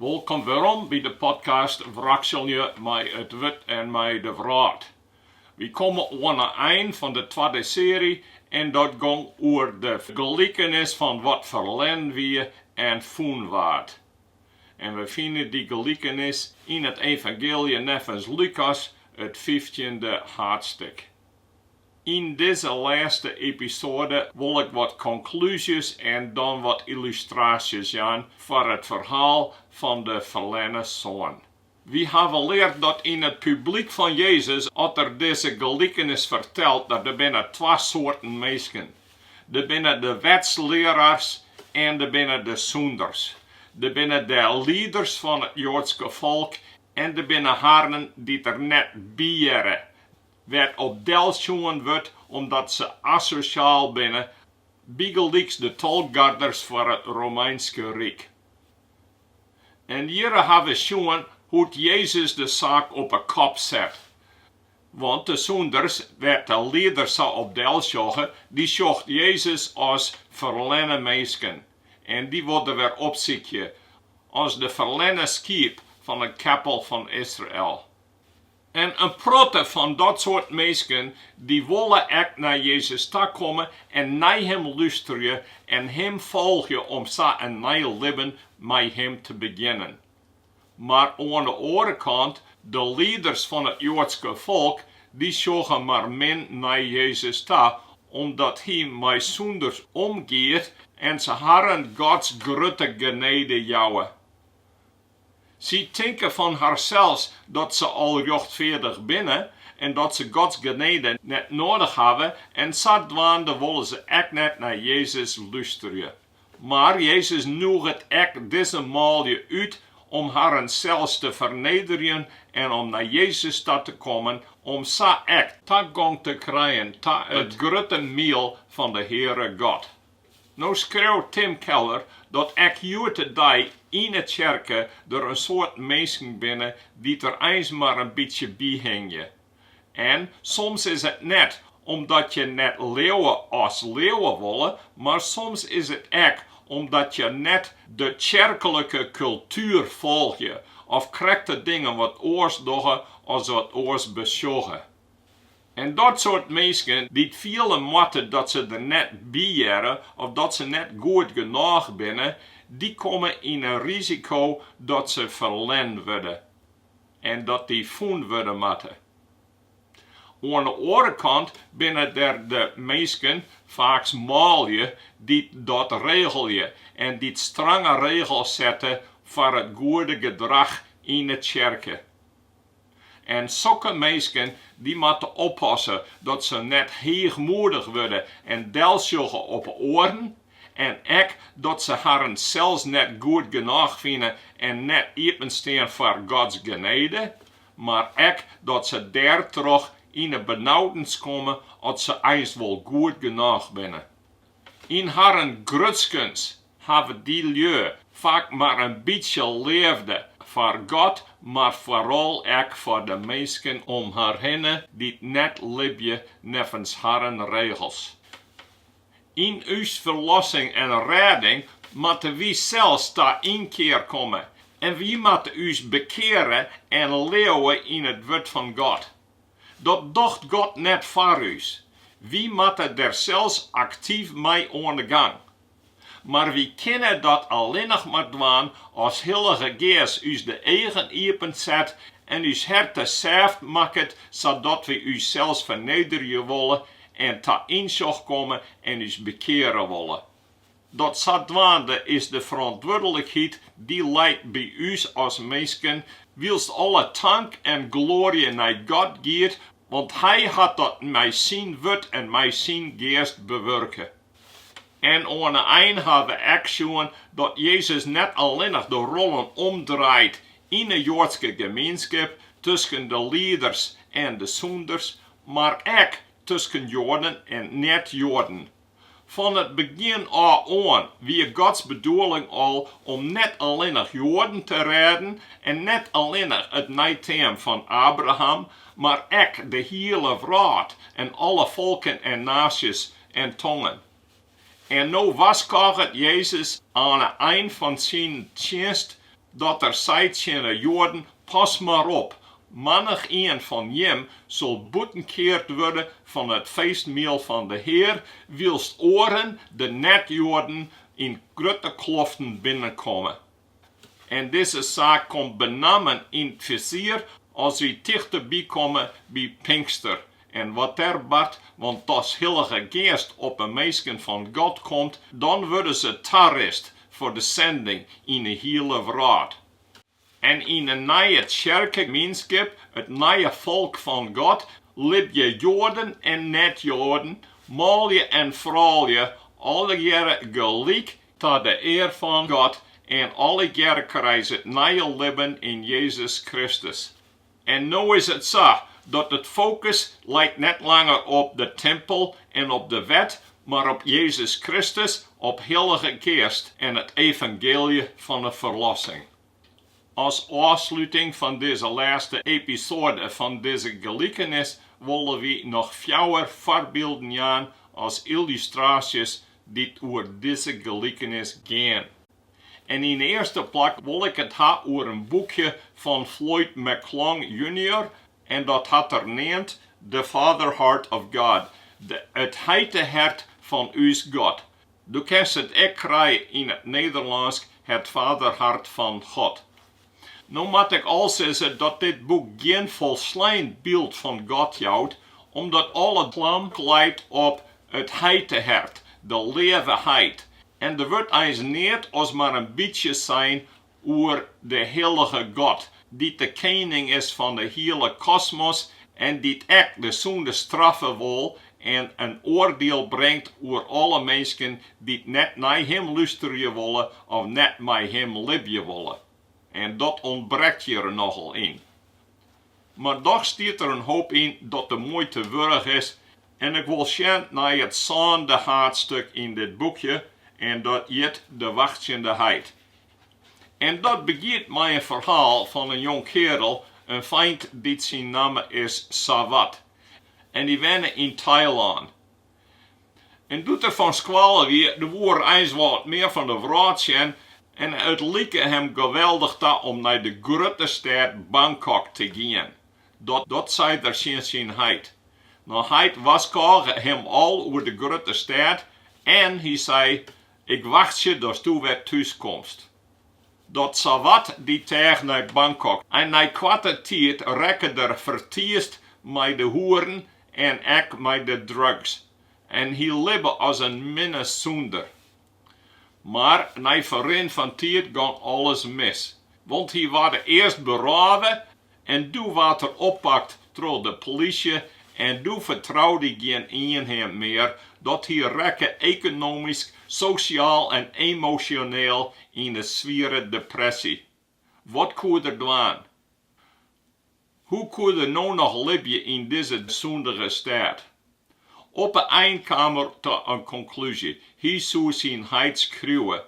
Wolkom werom by de podcast Wrakselje mei it Wurd en mei de wrâld. Wy komme oan 'e ein fan de twadde seary en dat gong oer de gelikenis fan wat ferlen wie en fûn waard. En wy fine dy gelikenis yn it Evangeelje neffens Lukas, it fyftjinde haadstik. Yn dizze lêste episoade wol ik wat konklúzjes en dan wat yllustraasjes jaan foar it ferhaal fan de ferlerne soan. Wy hawwe leard dat yn it publyk fan Jezus, as er dizze gelikenis fertelt, dat der binne twa soarten minsken. Der binne de wetslearaars en der binne de sûnders. Der binne de lieders fan it Joadske folk en der binne harren dy't der net by hearre, wêr't op del sjoen wurdt omdat se asosjaal binne, bygelyks de tolgarders foar it Romeinske Ryk. En hjirre ha we sjoen hoe't Jezus de saak op 'e kop set. Want de sûnders, wêr't de lieders sa op del sjogge, dy sjocht Jezus as ferlenne minsken en dy wol er wer opsykje, as de ferlenne skiep fan 'e keppel fan Israel. En in protte fan dat soart minsken dy wolle ek nei Jezus ta komme en nei Him lústerje en Him folgje om sa in nij libben mei Him te begjinnen. Mar oan de oare kant, de lieders fan it Joadske folk, dy sjogge mar min nei Jezus ta, omdat Hy mei sûnders omgiet en se harren Gods grutte genede jouwe. Sy tinke fan harsels dat se al rjochtfeardich binne en dat se Gods genede net nedich hawwe en sadwaande wolle se ek net nei Jezus lústerje. Mar Jezus nûget ek dizze manlju út om harren sels te fernederjen en om nei Jezus ta te kommen om sa ek tagong te krijen ta it grutte miel fan de Heare God. No skriuwt Tim Keller dat ek hjoed-de-dei yn 'e tsjerke der in soart minsken binne dy't der eins mar in bytsje by hingje. En soms is it net omdat je net leauwe as leauwe wolle, mar soms is it ek omdat je net de tsjerklike kultuer folgje of krekt de dingen wat oars dogge as wat oars besjogge. En dat soart minsken dy't fiele moatte dat se der net by hearre of dat se net goed genôch binne, dy komme yn 'e risiko dat se ferlern wurde en dat dy fûn wurde moatte. Oan 'e oare kant binne der de minsken, faaks manlju, dy't dat regelje en dy't strange regels sette foar it goede gedrach yn 'e tsjerke. En sokke minsken dy moatte oppasse dat se net heechmoedich wurde en delsjogge op oaren en ek dat se harren sels net goed genôch fine en net iepenstean foar Gods genede, mar ek dat se dêrtroch yn 'e benaudens komme at se eins wol goed genôch binne. Yn harren grutskens hawwe dy lju faak mar in bytsje leafde foar God, mar foaral ek foar de minsken om har hinne dy't net libje neffens harren regels. Yn ús ferlossing en rêding moatte wy sels ta ynkear komme en wy moatte ús bekeare en leauwe yn it Wurd fan God. Dat docht God net foar ús. Wy moatte der sels aktyf mei oan de gang. Mar wy kinne dat allinnich mar dwaan as Hillige Geast ús de eagen iepen set en ús herte sêft makket sadat wy ússels fernederje wolle en ta ynsjoch komme en ús bekeare wolle. Dat sadwaande is de ferantwurdlikheid dy leit by ús as minsken, wylst alle tank en gloary nei God giet, want Hy hat dat mei syn wurd en mei syn Geast bewurke. En oan 'e ein ha we ek sjoen dat Jezus net allinnich de rollen omdraait yn 'e Joadske gemeenskip tusken de lieders en de sûnders, mar ek tusken Joaden en net-Joaden. Fan it begjin ôf oan wie Gods bedoeling al om net allinnich Joaden te rêden en net allinnich it neiteam fan Abraham, mar ek de hiele wrâld en alle folken en naasjes en tongen. En no warskôget Jezus oan 'e ein fan syn tsjinst dat er seit tsjin 'e Joaden, Pas mar op, mannich-ien fan jim sil bûtenkeard wurde fan it feestmiel fan de Hear, wylst oaren, de net-Joaden, yn grutte kloften binnenkomme. En dizze saak komt benammen yn it fisier as wy tichteby komme by Pinkster En wat der bart, want as Hillige Geast op 'e minsken fan God komt, dan wurde se tarist foar de sinding yn 'e hiele wrâld. En yn 'e nije tsjerkemienskip, it nije folk fan God, libje Joaden en net-Joaden, manlju en froulju, allegearre gelyk ta de ear fan God en allegearre krije se it nije libben yn Jezus Kristus. En no is it sa dat it fokus leit net langer op de timpel en op de wet, mar op Jezus Kristus, op Hillige Geast en it evangeelje fan 'e ferlossing. As ôfsluting fan dizze lêste episoade fan dizze gelikenis wolle wy noch fjouwer foarbylden jaan as yllustraasjes dy't oer dizze gelikenis gean. En yn 'e earste plak wol ik it ha oer in boekje fan Floyd McClung junior en dat hat er neamd The Father Heart of God, It Heitehert fan ús God. Do kinst it ek krije yn it Nederlânsk Het Vaderhart van God. No moat ik al sizze dat dit boek gjin folslein byld fan God jout, omdat alle klam leit op it heitehert, de leave heit, en der wurdt eins net as mar in bytsje sein oer de hillige God, dy't de kening is fan de hiele kosmos en dy't ek de sûnde straffe wol en in oardiel bringt oer alle minsken dy't net nei Him lústerje wolle of net mei Him libje wolle. En dat ûntbrekt hjir nochal yn. Mar dochs stiet der in hoop yn dat de muoite wurdich is en ik wol sjen nei it sânde haadstuk yn dit boekje en dat hjit De wachtsjende heit. En dat begjint mei in ferhaal fan in jongkeardel, in feint dy't syn namme is Sawat en dy wenne yn Tailân. En doe't er fan skoalle wie, doe woe er eins wat mear fan de wrâld sjen en it like him geweldich ta om nei de grutte stêd Bangkok te gean, dat sei er tsjin syn heit. No heit warskôge him al oer de grutte stêd en hy sei, Ik wachtsje datsto wer thús komst. Dat Sawat dy teach nei Bangkok en nei koarte tiid rekke er fertiisd mei de hoeren en ek mei de drugs en hy libbe as in minne sûnder. Mar nei ferrin fan tiid gong alles mis, want hy waard earst berôve en doe waard er oppakt troch de plysje en doe fertroude gjin ien him mear, dat hy rekke ekonomysk, sosjaal en emosjoneel yn in swiere depresje. Wat koe er dwaan? Hoe koe er no noch libje yn dizze sûndige stêd? Op 'e ein kaam er ta in konklúzje, hy soe syn heit skriuwe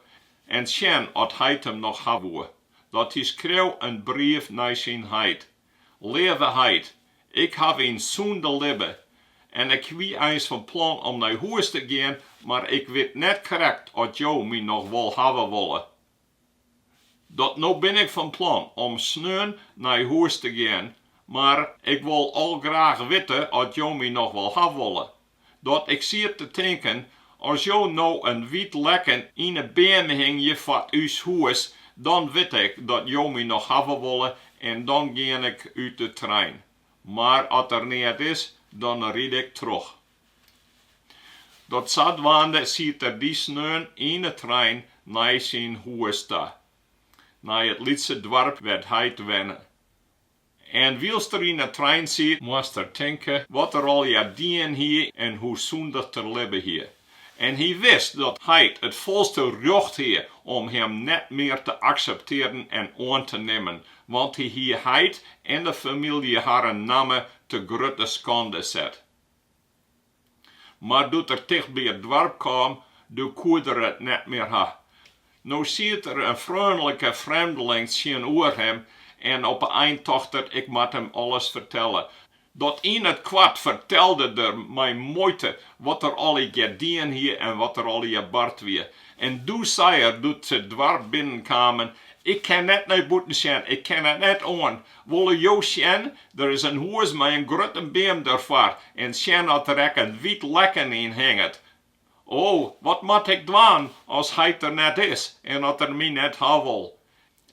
en sjen oft heit him noch ha woe. dat hy skreau in brief nei syn heit, Leave heit, ik haw yn sûnde libbe, en ik wie eins fan plan om nei hûs te gean, mar ik wit net krekt oft jo my noch wol hawwe wolle. Dat no bin ik fan plan om sneon nei hûs te gean, mar ik wol al graach witte oft jo my noch wol hawwe wolle. Dat ik siet te tinken, as jo no in wyt lekken yn 'e beam hingje foar ús hûs, dan wit ik dat jo my noch hawwe wolle en dan gean ik út de trein. Mar as der neat is, dan ride ik troch. Dat sadwaande siet er dy sneon yn 'e trein nei syn hûs ta. Nei it lytse doarp wêr't heit wenne. En wylst er yn 'e trein siet, moast er tinke wat er allegear dien hie en hoe sûndich't er libbe hie. En hy wist dat heit it folste rjocht hie om him net mear te akseptearjen en oan te nimmen, want hy hie heit en de famylje harren namme te grutte skande set. Mar doe't er tichtby it doarp kaam, doe koe er it net mear ha. No siet der in freonlike frjemdling tsjinoer him en op 'e ein tocht er, Ik moat him alles fertelle. Dat yn it koart fertelde er mei muoite wat er allegear dien hie en wat der allegear bard wie. En doe sei er, doe't se it doarp binnen kamen, Ik kin net nei bûten sjen, ik kin it net oan. Wolle jo sjen Der is in hûs mei in grutte beam derfoar en sjen oft der ek in wyt lekken yn hinget. O, wat moat ik dwaan as heit der net is en as er my net ha wol?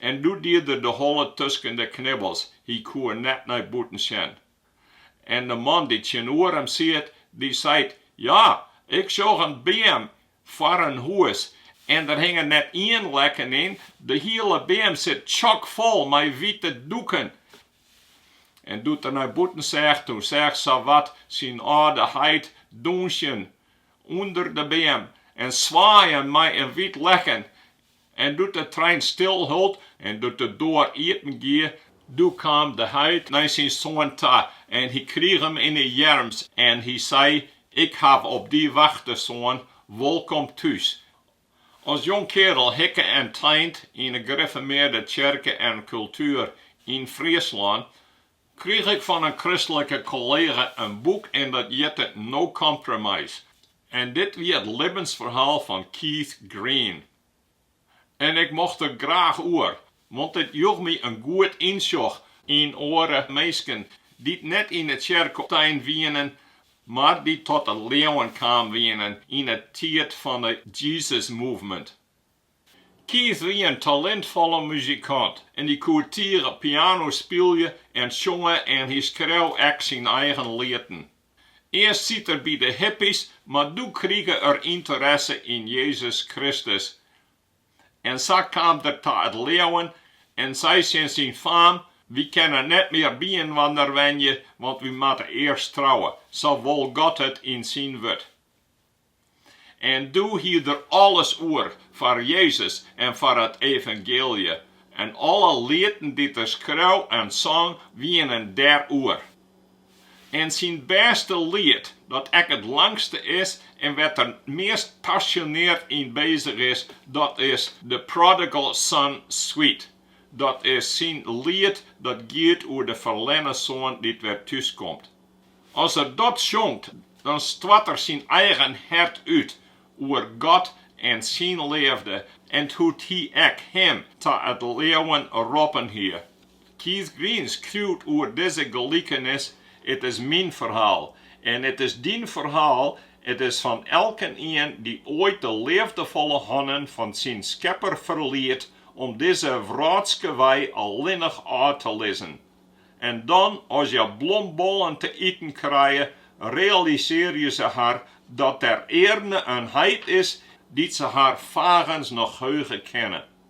En doe die er de holle tusken de knibbels, hy koe net nei bûten sjen. En de man dy't tsjinoer him siet, dy seit, Ja, ik sjoch in beam foar in hûs en der hinget net ien lekken yn, de hiele beam sit tsjokfol mei wite doeken En doe't er nei bûten seach, toen seach er sawat syn âlde heit dûnsjen ûnder de beam en swaaien mei in wyt lekken. En doe't de trein stil hold en doe't de doar iepen gie, doe kaam de heit nei syn soan ta en hy krige him yn 'e earms en hy sei, Ik haw op dy wachte, soan, wolkom thús, As jong keardel hikke en tein yn 'e grifformearde tsjerke en kultuer yn Fryslân, krige ik fan in kristlike kollega in boek en dat hjitte No Compromise en dit wie it libbensferhaal fan Keith Green. En ik mocht der graach oer, Want it joech my in goed ynsjoch yn oare minsken, dy't net yn 'e tsjerke tein wienen, mar dy't ta it leauwen kaam wienen yn 'e tiid fan 'e Jesus Movement. Keith wie in talintfolle muzikant en dy koe tige piano spylje en sjonge en hy skreau ek syn eigen lieten. Earst siet er by de hippies, mar doe krige er ynteresse yn Jezus Kristus En sa kaam er ta it leauwen en sei tsjin syn faam, Wy kinne net mear byinoarder wenje, want wy moatte earst trouwe, sa wol God it yn syn wurd. En doe hie er alles oer foar Jezus en foar it evangeelje, en alle lieten dy't er skreau en song, wienen dêr oer. En syn bêste liet, dat ek it langste is en wêr't er it meast pasjoneard yn bezich is, dat is The Prodigal Son Suite. Dat is syn liet dat giet oer de ferlerne soan dy't wer thús komt. As er dat sjongt, dan stoart er syn eigen hert út oer God en syn leafde en hoe't Hy ek him ta it leauwen roppen hie. Keith Green skriuwt oer dizze gelikenis, It is myn ferhaal en it is dyn ferhaal, it is fan elkenien dy't oait de leafdefolle hannen fan syn Skepper ferliet om dizze wrâldske wei allinnich ôf te lizzen. En dan, as hja blombollen te iten krije, realisearje se har dat der earne in heit is dy't se har fagens noch heuge kinne.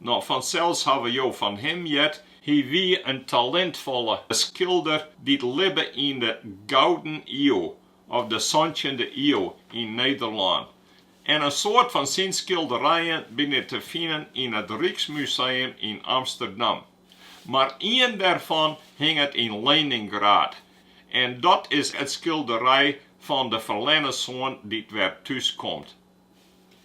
No, fansels hawwe jo fan him heard. Hy wie in talintfolle skilder dy't libbe yn de Gouden Iuw of de Santjende Iuw yn Nederlân. En in soad fan syn skilderijen binne te finen yn it Ryksmuseum yn Amsterdam. Mar ien dêrfan hinget yn Leningrad en dat is it skilderij fan de ferlerne soan dy't wer thús komt.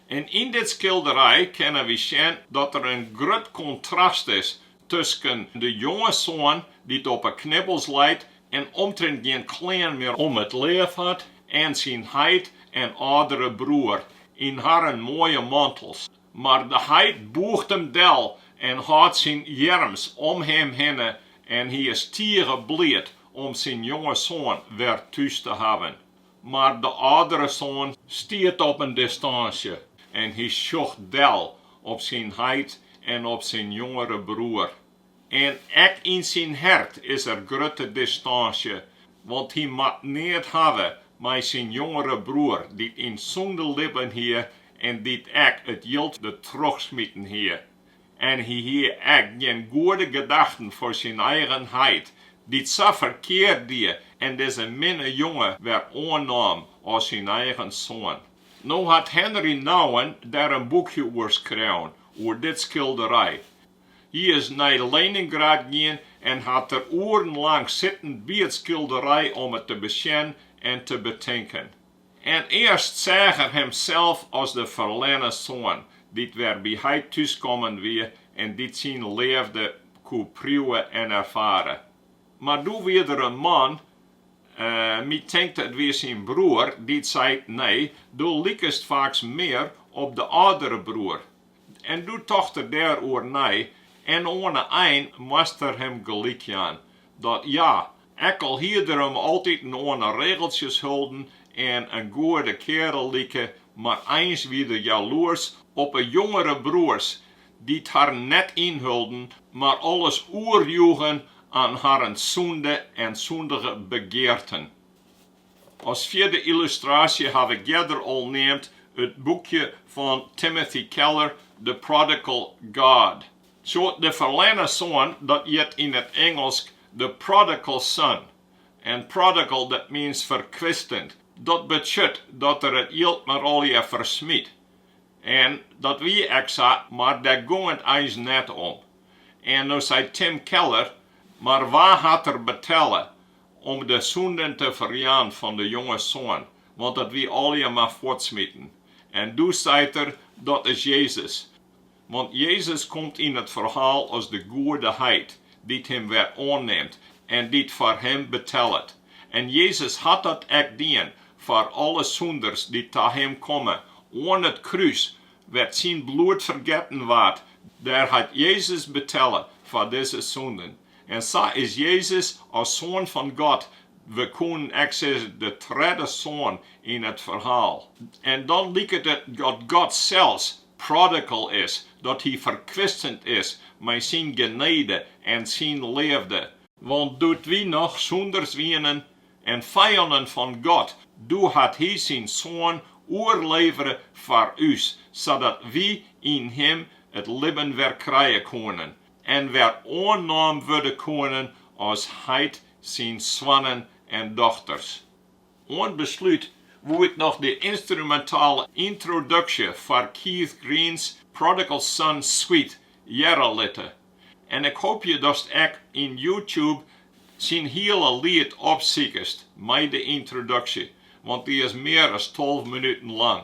En yn dit skilderij kinne wy sjen dat der in grut kontrast is tusken de jonge soan dy't op 'e knibbels leit en omtrint gjin klean mear om it liif hat, en syn heit en âldere broer yn harren moaie mantels. Mar de heit bûgt him del en hâldt syn earms om him hinne en hy is tige bliid om syn jonge soan wer thús te hawwen. Mar de âldere soan stiet op in distânsje en hy sjocht del op syn heit en op syn jongere broer. En ek yn syn hert is der grutte distânsje, want hy moat neat hawwe mei syn jongere broer dy't yn sûnde libben hie en dy't ek it jild der trochsmiten hie. en hy hie ek gjin goede gedachten foar syn eigen heit, dy't sa ferkeard die en dizze minne jonge wer oannaam as syn eigen soan. No hat Henry Nouwen dêr in boekje oer skreaun, oer dit skilderij. Hy is nei Leningrad gien en hat der oeren lang sitten by it skilderij om it te besjen en te betinken. En earst seach er himsels as de ferlerne soan, dy't wer by heit thús kommen wie en dy't syn leafde koe priuwe en erfare. Mar doe wie der in man, my tinkt it wie syn broer, dy't seit, Nee, do likest faaks mear op de âldere broer. En doe tocht er dêroer nei, en oan 'e ein moast er him gelyk jaan, dat ja, Ek al hie der him altyd oan 'e regeltsjes holden en in goede kearel like, mar eins wie er jaloers op 'e jongere broers, dy't harren net ynholden, mar alles oerjoegen oan harren sûnde en sûndige begearten. As fjirde yllustraasje haw ik earder al neamd it boekje fan Timothy Keller The Prodigal God. De ferlerne soan, dat hjit yn it Ingelsk the prodigal son, en prodigal dat means ferkwistend, dat betsjut dat er it jild mar allegear fersmyt. En dat wie ek sa, mar dêr gong it eins net om. En no seit Tim Keller, Mar wa hat der betelle om de sûnden te ferjaan fan de jonge soan, want dat wie allegear mar fuortsmiten? En doe seit er, Dat is Jezus. Want Jezus komt yn it ferhaal as de goede heit, dy't him wer oannimt en dy't foar him betellet. En Jezus hat dat ek dien foar alle sûnders dy't ta him komme. Oan it krús, wêr't syn bloed fergetten waard, dêr hat Jezus betelle foar dizze sûnden. En sa is Jezus as Soan fan God, we koenen ek sizze de tredde soan yn it ferhaal. En dan liket it dat God sels prodigal is, dat hy ferkwistend is mei syn genede en syn leafde. Want doe't wy noch sûnders wienen en fijannen fan God, doe hat hy syn Soan oerlevere foar ús, sadat wy yn him it libben wer krije koenen en wer oannommen wurde koenen as heit syn soannen en dochters. Oan beslút wo'k noch de ynstrumentale yntroduksje foar Keith Green's Prodigal Son Suite hearre litte. En ik hoopje datst ek yn YouTube syn heule liet opsikest mei de yntroduksje, want dy is mear as tolve minuten lang